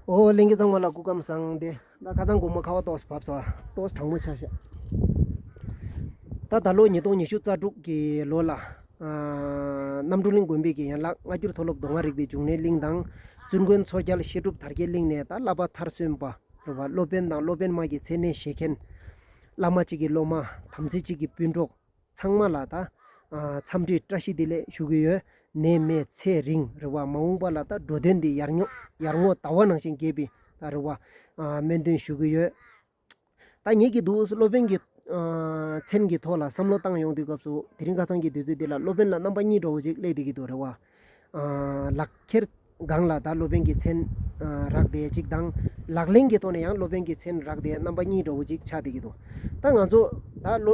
ཨོ་གླིང་གི་གཙང་མ་ལ་སྐུ་ཁམས་བཟང་སྟེ། ད་ཁ་ཚང་དགོང་མོ་ཁ་བ་ཏོག་བབས་སོ། ཏོག་གྲང་མོ་ཆགས་ཤག། ད་ད་ལོ་ཉིས་སྟོང་ཉི་ཤུ་རྩ་དྲུག་གི་ལོ་ལ། གནམ་གྲུ་གླིང་དགོན་པའི་གྱི་ཡན་ལག་སྔ་འགྱུར་མཐོ་སློབ་མདོ་སྔགས་རིག་པའི་འབྱུང་གནས་གླིང་དང། བཙུན་དགོན་མཚོ་རྒྱལ་བཤད་སྒྲུབ་དར་རྒྱས་གླིང་ནས་ད་བླ་པ་མཐར་སོན་པ། རེད་བ། སློབ་དཔོན་དང་སློབ་དཔོན་མ་གྱི་མཚན་གནས་བཞེས་མཁན། བླ་མ་གཅིག་གི་སློབ་མ། དམ་ཚིག་གཅིག་གི་སྤུན་གྲོགས། ཚང་མ་ལ་དང། འཚམས་འདྲི་བཀྲ་ཤིས་བདེ་ལེགས་ཞུ་གི་ཡོད། ནད་མེད་ཚེ་རིང་རེད་བ། མ་འོངས་པ་ལ་དང་འགྲོ་དོན་འདི་ཡར་ཉོག་ཡར་ངོ་དྭ་བ་ནང་བཞིན་རྒྱས་པའི་ད་རེད་བ། སྨོན་འདུན་ཞུ་གི་ཡོད། ད་ངེད་ཀྱི་འདུག་སློབ་དཔོན་གྱི། མཚན་གྱི་ཐོག་ལ་བསམ་བློ་བཏང་ཡོང་དུས་སྐབས་སུ་དེ་རིང་ཁ་སང་གི་དུས་ཚོད་འདི་ལ་སློབ་དཔོན་ལ་རྣམ་པ་གཉིས་འདྲ་བོ་ཅིག་གླེགས་བསྡད་ཀྱི་འདུག་རེད་བ། ལག་ཁྱེར་སྒང་ལ་དྭགས་སློབ་དཔོན་གྱི་མཚན་རག་བསྡད་ཅིག་དང། ལག་ལེན་གྱི་ཐོག་ནས་ཡང་སློབ་དཔོན་གྱི་མཚན་རག་བསྡད་རྣམ་པ་གཉིས་འདྲ་བོ་ཅིག་ཆགས་བསྡད་ཀྱི་འདུག་ད་ང་ཚོ་དྭགས་ལོ་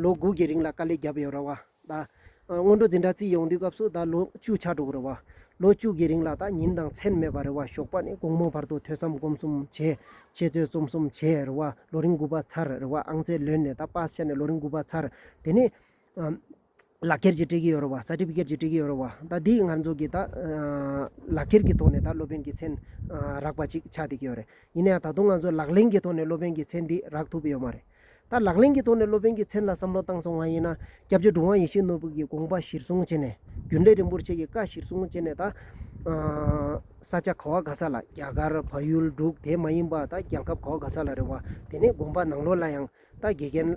ལོ་དགུ་གི་རིང་ལ་དཀའ་ལས་བརྒྱབ་ཡོད་ར་བ་ད། སྔོན་འགྲོ་འཛིན་གྲྭ་བརྩིས་ཡོང་དུས་སྐབས་སུ་ད་ལོ་བཅུ་ཆགས་འགྲོ་གི་ར་བ། ལོ་བཅུ་གི་རིང་ལ་ད་ཉིན་དང་མཚན་མེད་པར་རེ་བ་ཞོགས་པ་ནས་དགོང་མོ་བར་དུ་ཐོས་བསམ་སྒོམ་གསུམ་བྱས། འཆད་རྩོད་རྩོམ་གསུམ་བྱས་ར་བ་ལོ་རིང་དགུ་པ་ཚར་ར་བ་ཨང་རྩེད་ལོན་ནས་ད་སྤ་སེ་ཆ་ནས་ལོ་རིང་དགུ་པ་ཚར་དེ་ནས། ལག་ཁྱེར་གྱིས་སྤྲད་ཀྱི་ཡོད་རེད་བ། Certificate། གྱིས་སྤྲད་ཀྱི་ཡོད་རེད་བ། ད་དེ་སྔར་འཛོགས་ཀྱི་ད། ལག་ཁྱེར་གྱི་ཐོག་ནས་ད་སློབ་དཔོན་གྱི་མཚན། རག་པ་ཅིག་ཆགས་བསྡད་ཀྱི་ཡོད་རེད། ཡིན་ན་ཡང་ད་དུང་ང་ཚོས་ལག་ལེན་གྱི་ཐོག་ནས་སློབ་དཔོན་གྱི་མཚན་འདི་རག་ཐུབ་ཡོད་མ་རེད། ད་ལག་ལེན་གྱི་ཐོག་ནས་སློབ་དཔོན་གྱི་མཚན་ལ་བསམ་བློ་བཏང་སོང་བ་ཡིན་ན། སྐྱབས་རྗེ་གྲུབ་དབང་ཡེ་ཤེས་ནོར་བུ་གྱི་དགོངས་པ་གཞིར་བཟུང་བྱས་ནས། རྒྱུན་ལས་རིན་པོར་ཆེ་གི་བཀའ་གཞིར་བཟུང་བྱས་ནས་ད། ས་ཆ་ག་བ་ག་ས་ལ་རྒྱ་གར་བལ་ཡུལ་འབྲུག་དེ་མ་ཡིན་པ་ད་རྒྱལ་ཁབ་ག་བ་ག་ས་ལ་རེད་བ། དེ་ནས་དགོངས་པ་ནང་ལོགས་ལ་ཡང། ད་དགེ་རྒན།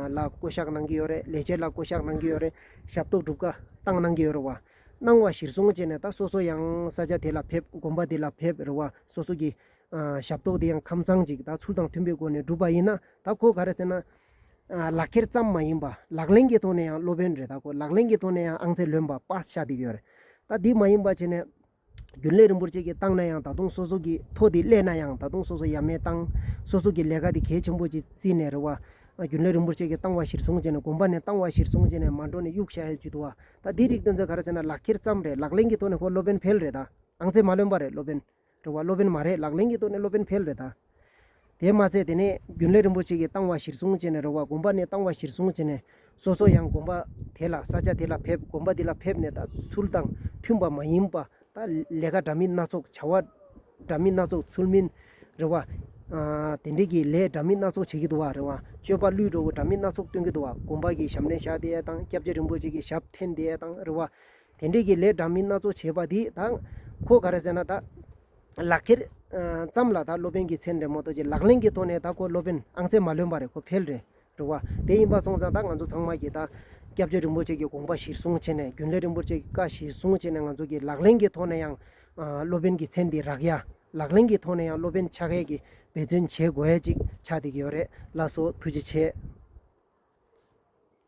ལ་བསྐོ་གཞག་གནང་གི་ཡོད་རེད། ལས་བྱེད་ལ་བསྐོ་གཞག་གནང་གི་ཡོད་རེད། ཞབས་ཏོག་སྒྲུབ་དཀའ་བཏང་གནང་གི་ཡོད་རེད་བ། གནང་བ་གཞིར་བཟུང་བྱས་ནས་ད་སོ་སོ་ཡང་ས་ཆ་དེ་ལ་ཕེབས་དགོན་པ་དེ་ལ་ཕེབས་རེད་བ། སོ་སོ་གི། ཞབས་ཏོག་དེ་ཡང་ཁམས་ཚང་ཅིག་ད་ཚུལ་དང་མཐུན་པའི་སྒོ་ནས་སྒྲུབ་པ་ཡིན་ན་ད་ཁོ་ག་རེད་ཟེར་ན། ལག་འཁྱེར་ཙམ་མ་ཡིན་པ་ལག་ལེན་གྱི་ཐོག་ནས་ཡང་སློབ་དཔོན་རེད་ད་ཁོ་ལག་ལེན་གྱི་ཐོག་ནས་ཡང་ཨང་རྩིས་ལོན་པ་པ་ཤ་སྟེགས་ཡོད་རེད། ད་དེ་མ་ཡིན་པ་བྱས་ནས། རྒྱུན་ལས་རིན་པོ་ཆེ་གིས་བཏང་ན་ཡང་ད་དུང་སོ་སོ་གིས་ཐོ་དེ་གླས་ན་ཡང་ད་དུང་སོ་སོ་ཡ་མེད་བཏང། སོ་སོ་གིས་ལས་ཀ་དེ་གལ་ཆེན་པོ་ཅིག་བརྩིས་ནས་རེད་བ། རྒྱུན་ལས་རིན་པོ་ཆེ་གིས་བཏང་བ་གཞིར་བཟུང་བྱས་ནས་དགོན་པ་ནས་བཏང་བ་གཞིར་བཟུང་བྱས་ནས་མ་འགྲོ་ནས་གཡུག་བཞག་ཡ་ཇུས་འདུག་བ། ད་དེའི་རིགས་སྟོན་ཚོད་ག་རེ་ཟེར་ན་ལག་འཁྱེར་ཙམ་རེད་ལག་ལེན་གྱི་ཐོག་ནས་ཁོ་སློབ་དཔོན་འཕེལ་རེད་ད། ཨང་རྩིས་མ་ལོན་པ་རེད་སློབ་དཔོན། རེད་བ། སློབ་དཔོན་མ་རེད་ལག་ལེན་གྱི་ཐོག་ནས་སློབ་དཔོན་འཕེལ་རེད་ད། དེས་མ་ཚད་དེ་ནས་རྒྱུན་ལས་རིན་པོ་ཆེ་གིས་བཏང་བ་གཞིར་བཟུང་བྱས་ནས་རོགས་པ་དགོན་པ་ནས་བཏང་བ་གཞིར་བཟུང་བྱས་ནས་སོ་སོ་ཡང་དགོན་པ་དེ་ལ་ས་ཆ་དེ་ལ་ཕེབས་དགོན་པ་འདི་ལ་ཕེབས་ནས་ད་ཚུལ་དང་མཐུན་པ་མ་ཡིན་པ་ད་ལས་ཀ་འདྲ་མིན་སྣ་ཚོགས་བྱ་བ་འདྲ་མིན་སྣ་ཚོགས་ཚུལ་མིན་རེ་བ། དེ་འབྲེལ་གྱི་ལས་འདྲ་མིན་སྣ་ཚོགས་བྱེད་ཀྱི་འདུག་བ་རེ་བ་སྤྱོད་པ་བླུའི་འགྲོ་བ་འདྲ་མིན་སྣ་ཚོགས་སྟོན་གྱི་འདུག་བ་དགོན་པ་གི་ཞབས་ནས་བཞག་དེ་དང་སྐྱབས་རྗེ་རིན་པོ་ཆེ་གི་ཞབས་འཐེན་དེ་དང་རེ་བ། དེ་འབྲེལ་གྱི་ལས་འདྲ་མིན་སྣ་ཚོགས་བྱས་པ་འདིས་ད་ཁོ་ག་རེ་ཟེར་ན་ད། ལག་ཁྱེར། ཙམ་ལ་ད་སློབ་དཔོན་གྱི་མཚན་རེད་མོ་ཏོ་ཅེས་ལག་ལེན་གྱི་ཐོག་ནས་ད་ཁོ་སློབ་དཔོན་ཨང་རྩེ་མ་ལོན་པ་རེད་ཁོ་ཕལ་རེ་འགྲོ་བ་དེ་ཡིན་པ་སོང་ཙང་ད་ང་ཚོ་ཚང་མ་གྱིས་ད་སྐྱབས་རྗེ་རིན་པོ་ཆེ་གྱི་དགོངས་པ་གཞིར་བཟུང་བྱས་ནས་རྒྱུན་ལས་རིན་པོ་ཆེ་གི་བཀའ་གཞིར་བཟུང་བྱས་ནས་ང་ཚོ་གྱིས་ལག་ལེན་གྱི་ཐོག་ནས་ཡང་སློབ་དཔོན་གྱི་མཚན་འདི་རག་ཡ། ལག་ལེན་གྱི་ཐོག་ནས་ཡང་སློབ་དཔོན་ཕྱག་ཁས་ཀྱིས་འབད་བརྩོན་བྱེད་དགོས་ཡ་ཅིག་ཆགས་བསྡད་ཀྱི་ཡོད་རེད་ལ་སོ་ཐུགས་རྗེ་ཆེ།